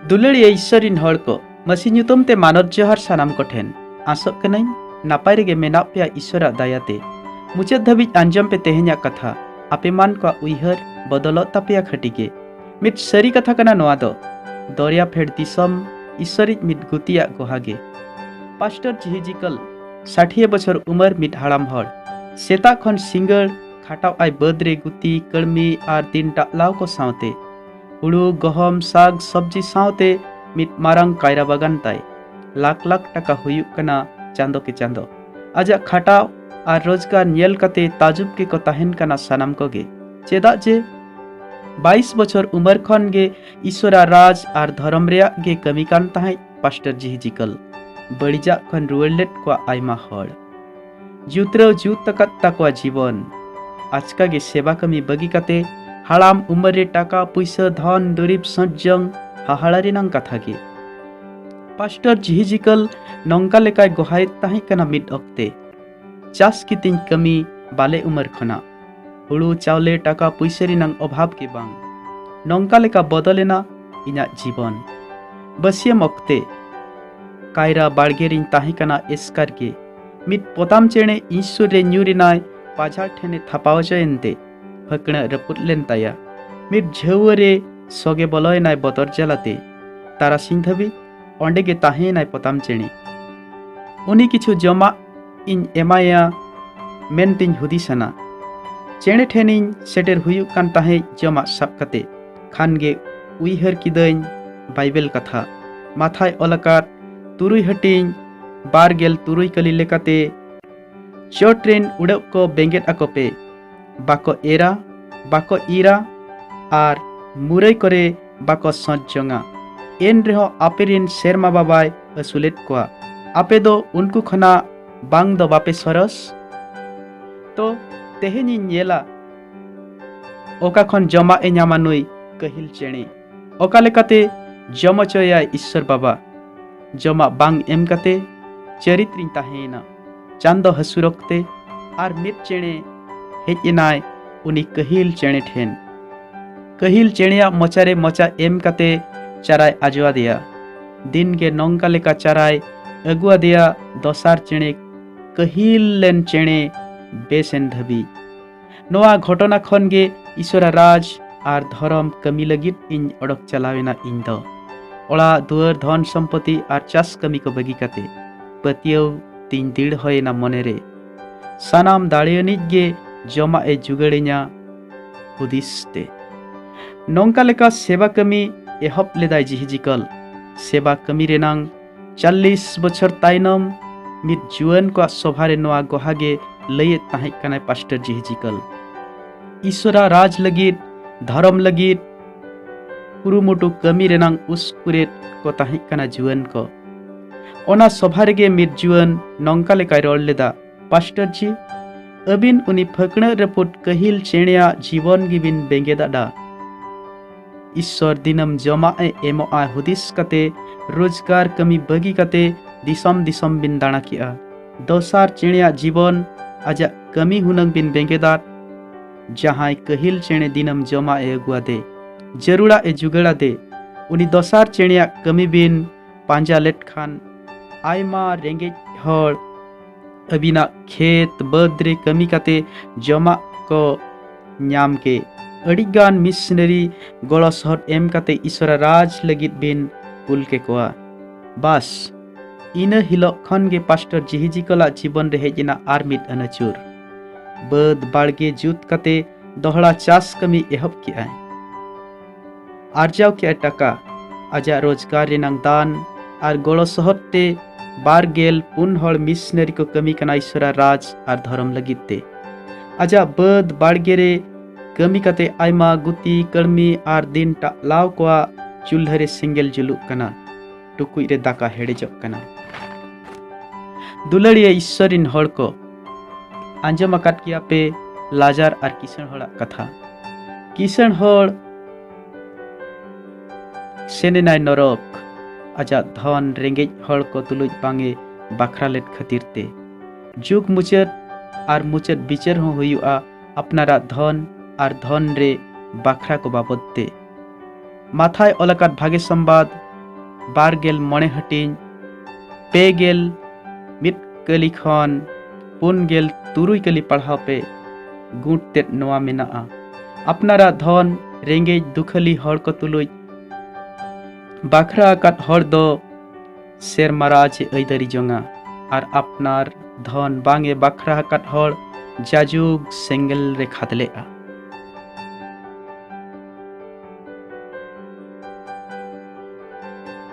ᱫᱩᱞᱟᱹᱲᱤᱭᱟᱹ ᱤᱥᱥᱚᱨ ᱨᱤᱱ ᱦᱚᱲ ᱠᱚ ᱢᱟᱹᱥᱤ ᱧᱩᱛᱩᱢ ᱛᱮ ᱢᱟᱱᱚᱛ ᱡᱚᱦᱟᱨ ᱥᱟᱱᱟᱢ ᱠᱚ ᱴᱷᱮᱱ ᱟᱥᱚᱜ ᱠᱟᱹᱱᱟᱹᱧ ᱱᱟᱯᱟᱭ ᱨᱮᱜᱮ ᱢᱮᱱᱟᱜ ᱯᱮᱭᱟ ᱤᱥᱥᱚᱨᱟᱜ ᱫᱟᱭᱟ ᱛᱮ ᱢᱩᱪᱟᱹᱫ ᱫᱷᱟᱹᱵᱤᱡ ᱟᱸᱡᱚᱢ ᱯᱮ ᱛᱮᱦᱮᱧᱟᱜ ᱠᱟᱛᱷᱟ ᱟᱯᱮ ᱢᱟᱱ ᱠᱚᱣᱟᱜ ᱩᱭᱦᱟᱹᱨ ᱵᱚᱫᱚᱞᱚᱜ ᱛᱟᱯᱮᱭᱟ ᱠᱷᱟᱹᱴᱤ ᱜᱮ ᱢᱤᱫ ᱥᱟᱹᱨᱤ ᱠᱟᱛᱷᱟ ᱠᱟᱱᱟ ᱱᱚᱣᱟ ᱫᱚ ᱫᱚᱨᱭᱟ ᱯᱷᱮᱰ ᱫᱤᱥᱚᱢ ᱤᱥᱥᱚᱨᱤᱡ ᱢᱤᱫ ᱜᱩᱛᱤᱭᱟᱜ ᱜᱚᱦᱟ ᱜᱮ ᱯᱟᱥᱴᱚᱨ ᱡᱤᱦᱤᱡᱤᱠᱚᱞ ᱥᱟᱴᱷᱤᱭᱟᱹ ᱵᱚᱪᱷᱚᱨ ᱩᱢᱟᱹᱨ ᱢᱤᱫ ᱦᱟᱲᱟᱢ ᱦᱚᱲ ᱥᱮᱛᱟᱜ ᱠᱷᱚᱱ ᱥᱤᱸᱜᱟᱹᱲ ᱠᱷᱟᱴᱟᱣ ᱟᱭ ᱵᱟᱹᱫᱽ ᱨᱮ ᱜᱩᱛᱤ ᱠᱟᱹᱲᱢᱤ ᱟᱨ ᱫᱤᱱ ᱰᱟᱜᱞᱟᱣ ᱠᱚ ᱥᱟᱶᱛᱮ ᱦᱩᱲᱩ ᱜᱚᱦᱚᱢ ᱥᱟᱜᱽ ᱥᱚᱵᱽᱡᱤ ᱥᱟᱶᱛᱮ ᱢᱤᱫ ᱢᱟᱨᱟᱝ ᱠᱟᱭᱨᱟ ᱵᱟᱜᱟᱱ ᱛᱟᱭ ᱞᱟᱠᱷ ᱞᱟᱠᱷ ᱴᱟᱠᱟ ᱦᱩᱭᱩᱜ ᱠᱟᱱᱟ ᱪᱟᱸᱫᱚ ᱠᱮ ᱪᱟᱸᱫᱚ ᱟᱡᱟᱜ ᱠᱷᱟᱴᱟᱣ ᱟᱨ ᱨᱳᱡᱽᱜᱟᱨ ᱧᱮᱞ ᱠᱟᱛᱮ ᱛᱟᱡᱩᱵ ᱜᱮᱠᱚ ᱛᱟᱦᱮᱱ ᱠᱟᱱᱟ ᱥᱟᱱᱟᱢ ᱠᱚᱜᱮ ᱪᱮᱫᱟᱜ ᱡᱮ ᱵᱟᱭᱤᱥ ᱵᱚᱪᱷᱚᱨ ᱩᱢᱮᱨ ᱠᱷᱚᱱ ᱜᱮ ᱤᱥᱚᱨᱟ ᱨᱟᱡᱽ ᱟᱨ ᱫᱷᱚᱨᱚᱢ ᱨᱮᱭᱟᱜ ᱜᱮ ᱠᱟᱹᱢᱤ ᱠᱟᱱ ᱛᱟᱦᱮᱸᱫ ᱯᱟᱥᱴᱚᱨ ᱡᱤᱦᱤᱡᱤᱠᱚᱞ ᱵᱟᱹᱲᱤᱡᱟᱜ ᱠᱷᱚᱱ ᱨᱩᱣᱟᱹᱲ ᱞᱮᱫ ᱠᱚᱣᱟ ᱟᱭᱢᱟ ᱦᱚᱲ ᱡᱩᱛᱨᱟᱹᱣ ᱡᱩᱛ ᱟᱠᱟᱫ ᱛᱟᱠᱚᱣᱟ ᱡᱤᱵᱚᱱ ᱟᱪᱠᱟ ᱜᱮ ᱥᱮᱵᱟ ᱠᱟᱹᱢᱤ ᱵᱟᱹᱜᱤ ᱠᱟᱛᱮ ᱦᱟᱲᱟᱢ ᱩᱢᱮᱨ ᱨᱮ ᱴᱟᱠᱟ ᱯᱩᱭᱥᱟᱹ ᱫᱷᱚᱱ ᱫᱩᱨᱤᱵ ᱥᱚᱡᱽᱡᱚᱝ ᱦᱟᱦᱟᱲᱟ ᱨᱮᱱᱟᱝ ᱠᱟᱛᱷᱟ ᱜᱮ ᱯᱟᱥᱴᱚᱨ ᱡᱤᱦᱤᱡᱤᱠᱟᱞ ᱱᱚᱝᱠᱟ ᱞᱮᱠᱟᱭ ᱜᱚᱦᱟᱭᱮᱫ ᱛᱟᱦᱮᱸ ᱠᱟᱱᱟ ᱢᱤᱫ ᱚᱠᱛᱮ ᱪᱟᱥ ᱠᱤᱛᱤᱧ ᱠᱟᱹᱢᱤ ᱵᱟᱞᱮ ᱩᱢᱮᱨ ᱠᱷᱚᱱᱟᱜ ᱦᱩᱲᱩ ᱪᱟᱣᱞᱮ ᱴᱟᱠᱟ ᱯᱩᱭᱥᱟᱹ ᱨᱮᱱᱟᱝ ᱚᱵᱷᱟᱵᱽ ᱜᱮ ᱵᱟᱝ ᱱᱚᱝᱠᱟ ᱞᱮᱠᱟ ᱵᱚᱫᱚᱞᱮᱱᱟ ᱤᱧᱟᱹᱜ ᱡᱤᱵᱚᱱ ᱵᱟᱹᱥᱭᱟᱹᱢ ᱚᱠᱛᱮ ᱠᱟᱭᱨᱟ ᱵᱟᱲᱜᱮ ᱨᱤᱧ ᱛᱟᱦᱮᱸ ᱠᱟᱱᱟ ᱮᱥᱠᱟᱨ ᱜᱮ ᱢᱤᱫ ᱯᱚᱛᱟᱢ ᱪᱮᱬᱮ ᱤᱥᱥᱩᱨ ᱨᱮ ᱧᱩᱨ ᱮᱱᱟᱭ ᱯᱟᱡᱷᱟᱲ ᱴᱷᱮᱱᱮ ᱛᱷᱟᱯᱟᱣ ᱦᱚᱪᱚᱭᱮᱱᱛᱮ ᱯᱷᱟᱹᱠᱬᱟᱹ ᱨᱟᱹᱯᱩᱫ ᱞᱮᱱ ᱛᱟᱭᱟ ᱢᱤᱫ ᱡᱷᱟᱹᱣᱟᱹ ᱨᱮ ᱥᱚᱜᱮ ᱵᱚᱞᱚᱭᱮᱱᱟᱭ ᱵᱚᱛᱚᱨ ᱡᱟᱞᱟᱛᱮ ᱛᱟᱨᱟᱥᱤᱧ ᱫᱷᱟᱹᱵᱤᱡ ᱚᱸᱰᱮ ᱜᱮ ᱛᱟᱦᱮᱸᱭᱮᱱᱟᱭ ᱯᱚᱛᱟᱢ ᱪᱮᱬᱮ ᱩᱱᱤ ᱠᱤᱪᱷᱩ ᱡᱚᱢᱟᱜ ᱤᱧ ᱮᱢᱟᱭᱟ ᱢᱮᱱᱛᱮᱧ ᱦᱩᱫᱤᱥᱟᱱᱟ ᱪᱮᱬᱮ ᱴᱷᱮᱱᱤᱧ ᱥᱮᱴᱮᱨ ᱦᱩᱭᱩᱜ ᱠᱟᱱ ᱛᱟᱦᱮᱸᱫ ᱡᱚᱢᱟᱜ ᱥᱟᱵ ᱠᱟᱛᱮ ᱠᱷᱟᱱ ᱜᱮ ᱩᱭᱦᱟᱹᱨ ᱠᱤᱫᱟᱹᱧ ᱵᱟᱭᱵᱮᱞ ᱠᱟᱛᱷᱟ ᱢᱟᱛᱷᱟᱭ ᱚᱞ ᱟᱠᱟᱫ ᱛᱩᱨᱩᱭ ᱦᱟᱹᱴᱤᱧ ᱵᱟᱨ ᱜᱮᱞ ᱛᱩᱨᱩᱭ ᱠᱟᱹᱞᱤ ᱞᱮᱠᱟᱛᱮ ᱪᱚᱴ ᱨᱮᱱ ᱩᱰᱟᱹᱜ ᱠᱚ ᱵᱮᱸᱜᱮᱫ ᱟᱠᱚ ᱯᱮ ᱵᱟᱠᱚ ᱮᱨᱟ ᱵᱟᱠᱚ ᱤᱨᱟ ᱟᱨ ᱢᱩᱨᱟᱹᱭ ᱠᱚᱨᱮ ᱵᱟᱠᱚ ᱥᱚᱸᱪ ᱡᱚᱝᱟ ᱮᱱ ᱨᱮᱦᱚᱸ ᱟᱯᱮ ᱨᱮᱱ ᱥᱮᱨᱢᱟ ᱵᱟᱵᱟᱭ ᱟᱹᱥᱩᱞᱮᱫ ᱠᱚᱣᱟ ᱟᱯᱮ ᱫᱚ ᱩᱱᱠᱩ ᱠᱷᱚᱱᱟᱜ ᱵᱟᱝ ᱫᱚ ᱵᱟᱯᱮ ᱥᱚᱨᱚᱥ ᱛᱚ ᱛᱮᱦᱮᱧᱤᱧ ᱧᱮᱞᱟ ᱚᱠᱟ ᱠᱷᱚᱱ ᱡᱚᱢᱟᱜ ᱮ ᱧᱟᱢᱟ ᱱᱩᱭ ᱠᱟᱹᱦᱤᱞ ᱪᱮᱬᱮ ᱚᱠᱟ ᱞᱮᱠᱟᱛᱮ ᱡᱚᱢ ᱦᱚᱪᱚᱭᱟᱭ ᱤᱥᱥᱚᱨ ᱵᱟᱵᱟ ᱡᱚᱢᱟᱜ ᱵᱟᱝ ᱮᱢ ᱠᱟᱛᱮ ᱪᱟᱹᱨᱤᱛ ᱨᱤᱧ ᱛᱟᱦᱮᱸᱭᱮᱱᱟ ᱪᱟᱸᱫᱚ ᱦᱟᱹᱥᱩᱨ ᱚᱠᱛᱮ ᱟᱨ ᱢᱤᱫ ᱪᱮᱬᱮ ᱦᱮᱡ ᱮᱱᱟᱭ ᱩᱱᱤ ᱠᱟᱹᱦᱤᱞ ᱪᱮᱬᱮ ᱴᱷᱮᱱ ᱠᱟᱹᱦᱤᱞ ᱪᱮᱬᱮᱭᱟᱜ ᱢᱚᱪᱟᱨᱮ ᱢᱚᱪᱟ ᱮᱢ ᱠᱟᱛᱮ ᱪᱟᱨᱟᱭ ᱟᱡᱚᱣᱟᱫᱮᱭᱟ ᱫᱤᱱ ᱜᱮ ᱱᱚᱝᱠᱟ ᱞᱮᱠᱟ ᱪᱟᱨᱟᱭ ᱟᱹᱜᱩᱣᱟᱫᱮᱭᱟ ᱫᱚᱥᱟᱨ ᱪᱮᱬᱮ ᱠᱟᱹᱦᱤᱞ ᱞᱮᱱ ᱪᱮᱬᱮ ᱵᱮᱥᱮᱱ ᱫᱷᱟᱹᱵᱤᱡ ᱱᱚᱣᱟ ᱜᱷᱚᱴᱚᱱᱟ ᱠᱷᱚᱱ ᱜᱮ ᱤᱥᱚᱨᱟ ᱨᱟᱡᱽ ᱟᱨ ᱫᱷᱚᱨᱚᱢ ᱠᱟᱹᱢᱤ ᱞᱟᱹᱜᱤᱫ ᱤᱧ ᱚᱰᱚᱠ ᱪᱟᱞᱟᱣ ᱮᱱᱟ ᱤᱧ ᱫᱚ ᱚᱲᱟᱜ ᱫᱩᱣᱟᱹᱨ ᱫᱷᱚᱱ ᱥᱚᱢᱯᱚᱛᱤ ᱟᱨ ᱪᱟᱥ ᱠᱟᱹᱢᱤ ᱠᱚ ᱵᱟᱹᱜᱤ ᱠᱟᱛᱮ ᱯᱟᱹᱛᱭᱟᱹᱣ ᱛᱤᱧ ᱫᱤᱲ ᱦᱚᱭᱮᱱᱟ ᱢᱚᱱᱮᱨᱮ ᱥᱟᱱᱟᱢ ᱫᱟᱲᱮᱭᱟᱱᱤᱡ ᱜᱮ ᱡᱚᱢᱟᱜ ᱮ ᱡᱩᱜᱟᱹᱲᱤᱧᱟ ᱦᱩᱫᱤᱥ ᱛᱮ ᱱᱚᱝᱠᱟ ᱞᱮᱠᱟ ᱥᱮᱵᱟ ᱠᱟᱹᱢᱤ ᱮᱦᱚᱵ ᱞᱮᱫᱟᱭ ᱡᱤᱦᱤᱡᱤᱠᱚᱞ ᱥᱮᱵᱟ ᱠᱟᱹᱢᱤ ᱨᱮᱱᱟᱝ ᱪᱟᱞᱞᱤᱥ ᱵᱚᱪᱷᱚᱨ ᱛᱟᱭᱱᱚᱢ ᱢᱤᱫ ᱡᱩᱣᱟᱹᱱ ᱠᱚᱣᱟᱜ ᱥᱚᱵᱷᱟ ᱨᱮ ᱱᱚᱣᱟ ᱜᱚᱦᱟ ᱜᱮ ᱞᱟᱹᱭᱮᱫ ᱛᱟᱦᱮᱸ ᱠᱟᱱᱟᱭ ᱯᱟᱥᱴᱚᱨ ᱡᱤᱦᱤᱡᱤᱠᱟᱞ ᱤᱥᱚᱨᱟ ᱨᱟᱡᱽ ᱞᱟᱹᱜᱤᱫ ᱫᱷᱚᱨᱚᱢ ᱞᱟᱹᱜᱤᱫ ᱠᱩᱨᱩᱢᱩᱴᱩ ᱠᱟᱹᱢᱤ ᱨᱮᱱᱟᱝ ᱩᱥᱠᱩᱨᱮᱫ ᱠᱚ ᱛᱟᱦᱮᱸ ᱠᱟᱱᱟ ᱡᱩᱣᱟᱹᱱ ᱠᱚ ᱚᱱᱟ ᱥᱚᱵᱷᱟ ᱨᱮᱜᱮ ᱢᱤᱫ ᱡᱩᱣᱟᱹᱱ ᱱᱚᱝᱠᱟ ᱞᱮᱠᱟᱭ ᱨᱚᱲ ᱞᱮᱫᱟ ᱯᱟᱥᱴᱟᱨ ᱡᱤ ᱟᱹᱵᱤᱱ ᱩᱱᱤ ᱯᱷᱟᱹᱠᱬᱟᱹ ᱨᱟᱹᱯᱩᱫ ᱠᱟᱹᱦᱤᱞ ᱪᱮᱬᱮᱭᱟᱜ ᱡᱤᱵᱚᱱ ᱜᱮᱵᱤᱱ ᱵᱮᱸᱜᱮᱫᱟᱰᱟ ᱤᱥᱥᱚᱨ ᱫᱤᱱᱟᱹᱢ ᱡᱚᱢᱟᱜ ᱮ ᱮᱢᱚᱜᱼᱟ ᱦᱩᱫᱤᱥ ᱠᱟᱛᱮ ᱨᱳᱡᱽᱜᱟᱨ ᱠᱟᱹᱢᱤ ᱵᱟᱹᱜᱤ ᱠᱟᱛᱮ ᱫᱤᱥᱚᱢ ᱫᱤᱥᱚᱢ ᱵᱤᱱ ᱫᱟᱬᱟ ᱠᱮᱜᱼᱟ ᱫᱚᱥᱟᱨ ᱪᱮᱬᱮᱭᱟᱜ ᱡᱤᱵᱚᱱ ᱟᱡᱟᱜ ᱠᱟᱹᱢᱤ ᱦᱩᱱᱟᱹᱝ ᱵᱤᱱ ᱵᱮᱸᱜᱮᱫᱟᱫ ᱡᱟᱦᱟᱸᱭ ᱠᱟᱹᱦᱤᱞ ᱪᱮᱬᱮ ᱫᱤᱱᱟᱹᱢ ᱡᱚᱢᱟᱜ ᱮ ᱟᱹᱜᱩᱣᱟᱫᱮ ᱡᱟᱹᱨᱩᱲᱟᱜ ᱮ ᱡᱩᱜᱟᱹᱲᱟᱫᱮ ᱩᱱᱤ ᱫᱚᱥᱟᱨ ᱪᱮᱬᱮᱭᱟᱜ ᱠᱟᱹᱢᱤ ᱵᱤᱱ ᱯᱟᱸᱡᱟ ᱞᱮᱫ ᱠᱷᱟᱱ ᱟᱭᱢᱟ ᱨᱮᱸᱜᱮᱡ ᱦᱚᱲ ᱟᱹᱵᱤᱱᱟᱜ ᱠᱷᱮᱛ ᱵᱟᱹᱫᱽ ᱨᱮ ᱠᱟᱹᱢᱤ ᱠᱟᱛᱮ ᱡᱚᱢᱟᱜ ᱠᱚ ᱧᱟᱢ ᱠᱮ ᱟᱹᱰᱤᱜᱟᱱ ᱢᱤᱥᱱᱟᱨᱤ ᱜᱚᱲᱚ ᱥᱚᱦᱚᱫ ᱮᱢ ᱠᱟᱛᱮ ᱤᱥᱚᱨᱟ ᱨᱟᱡᱽ ᱞᱟᱹᱜᱤᱫ ᱵᱤᱱ ᱠᱩᱞ ᱠᱮ ᱠᱚᱣᱟ ᱵᱟᱥ ᱤᱱᱟᱹ ᱦᱤᱞᱳᱜ ᱠᱷᱚᱱ ᱜᱮ ᱯᱟᱥᱴᱚᱨ ᱡᱤᱦᱤᱡᱤ ᱠᱚᱞᱟᱜ ᱡᱤᱵᱚᱱ ᱨᱮ ᱦᱮᱡ ᱮᱱᱟ ᱟᱨ ᱢᱤᱫ ᱟᱹᱱᱟᱹᱪᱩᱨ ᱵᱟᱹᱫᱽ ᱵᱟᱲᱜᱮ ᱡᱩᱛ ᱠᱟᱛᱮ ᱫᱚᱦᱲᱟ ᱪᱟᱥ ᱠᱟᱹᱢᱤ ᱮᱦᱚᱵ ᱠᱮᱜᱼᱟᱭ ᱟᱨᱡᱟᱣ ᱠᱮᱫ ᱴᱟᱠᱟ ᱟᱡᱟᱜ ᱨᱳᱡᱽᱜᱟᱨ ᱨᱮᱱᱟᱝ ᱫᱟᱱ ᱟᱨ ᱜᱚᱲᱚ ᱥᱚᱦᱚᱫ ᱛᱮ ᱵᱟᱨ ᱜᱮᱞ ᱯᱩᱱ ᱦᱚᱲ ᱢᱤᱥᱱᱟᱨᱤ ᱠᱚ ᱠᱟᱹᱢᱤ ᱠᱟᱱᱟ ᱤᱥᱚᱨᱟ ᱨᱟᱡᱽ ᱟᱨ ᱫᱷᱚᱨᱚᱢ ᱞᱟᱹᱜᱤᱫ ᱛᱮ ᱟᱡᱟᱜ ᱵᱟᱹᱫᱽ ᱵᱟᱲᱜᱮ ᱨᱮ ᱠᱟᱹᱢᱤ ᱠᱟᱛᱮ ᱟᱭᱢᱟ ᱜᱩᱛᱤ ᱠᱟᱹᱲᱢᱤ ᱟᱨ ᱫᱤᱱ ᱴᱟᱜ ᱞᱟᱣ ᱠᱚᱣᱟᱜ ᱪᱩᱞᱦᱟᱹ ᱨᱮ ᱥᱮᱸᱜᱮᱞ ᱡᱩᱞᱩᱜ ᱠᱟᱱᱟ ᱴᱩᱠᱩᱡ ᱨᱮ ᱫᱟᱠᱟ ᱦᱮᱲᱮᱡᱚᱜ ᱠᱟᱱᱟ ᱫᱩᱞᱟᱹᱲᱤᱭᱟᱹ ᱤᱥᱥᱚᱨ ᱨᱤᱱ ᱦᱚᱲ ᱠᱚ ᱟᱸᱡᱚᱢ ᱟᱠᱟᱫ ᱜᱮᱭᱟ ᱯᱮ ᱞᱟᱡᱟᱨ ᱟᱨ ᱠᱤᱥᱟᱹᱬ ᱦᱚᱲᱟᱜ ᱠᱟᱛᱷᱟ ᱠᱤᱥᱟᱹᱬ ᱦᱚᱲ ᱥᱮᱱ ᱮᱱᱟᱭ ᱱᱚᱨᱚᱠ ᱟᱡᱟᱜ ᱫᱷᱚᱱ ᱨᱮᱸᱜᱮᱡ ᱦᱚᱲ ᱠᱚ ᱛᱩᱞᱩᱡ ᱵᱟᱝᱮ ᱵᱟᱠᱷᱨᱟ ᱞᱮᱫ ᱠᱷᱟᱹᱛᱤᱨ ᱛᱮ ᱡᱩᱜᱽ ᱢᱩᱪᱟᱹᱫ ᱟᱨ ᱢᱩᱪᱟᱹᱫ ᱵᱤᱪᱟᱹᱨ ᱦᱚᱸ ᱦᱩᱭᱩᱜᱼᱟ ᱟᱯᱱᱟᱨᱟᱜ ᱫᱷᱚᱱ ᱟᱨ ᱫᱷᱚᱱ ᱨᱮ ᱵᱟᱠᱷᱨᱟ ᱠᱚ ᱵᱟᱵᱚᱫ ᱛᱮ ᱢᱟᱛᱷᱟᱭ ᱚᱞ ᱟᱠᱟᱫ ᱵᱷᱟᱜᱮ ᱥᱚᱢᱵᱟᱫ ᱵᱟᱨ ᱜᱮᱞ ᱢᱚᱬᱮ ᱦᱟᱹᱴᱤᱧ ᱯᱮ ᱜᱮᱞ ᱢᱤᱫ ᱠᱟᱹᱞᱤ ᱠᱷᱚᱱ ᱯᱩᱱ ᱜᱮᱞ ᱛᱩᱨᱩᱭ ᱠᱟᱹᱞᱤ ᱯᱟᱲᱦᱟᱣ ᱯᱮ ᱜᱩᱴ ᱛᱮᱫ ᱱᱚᱣᱟ ᱢᱮᱱᱟᱜᱼᱟ ᱟᱯᱱᱟᱨᱟᱜ ᱫᱷᱚᱱ ᱨᱮᱸᱜᱮᱡ ᱫᱩᱠᱷᱟᱹᱞᱤ ᱦᱚᱲ ᱠᱚ ᱛᱩᱞᱩᱡ ᱵᱟᱠᱷᱨᱟ ᱟᱠᱟᱫ ᱦᱚᱲ ᱫᱚ ᱥᱮᱨᱢᱟ ᱨᱟᱡᱽ ᱮ ᱟᱹᱭᱫᱟᱹᱨᱤ ᱡᱚᱝᱟ ᱟᱨ ᱟᱯᱱᱟᱨ ᱫᱷᱚᱱ ᱵᱟᱝ ᱮ ᱵᱟᱠᱷᱨᱟ ᱟᱠᱟᱫ ᱦᱚᱲ ᱡᱟᱡᱩᱜᱽ ᱥᱮᱸᱜᱮᱞ ᱨᱮ ᱠᱷᱟᱫᱽᱞᱮᱜᱼᱟ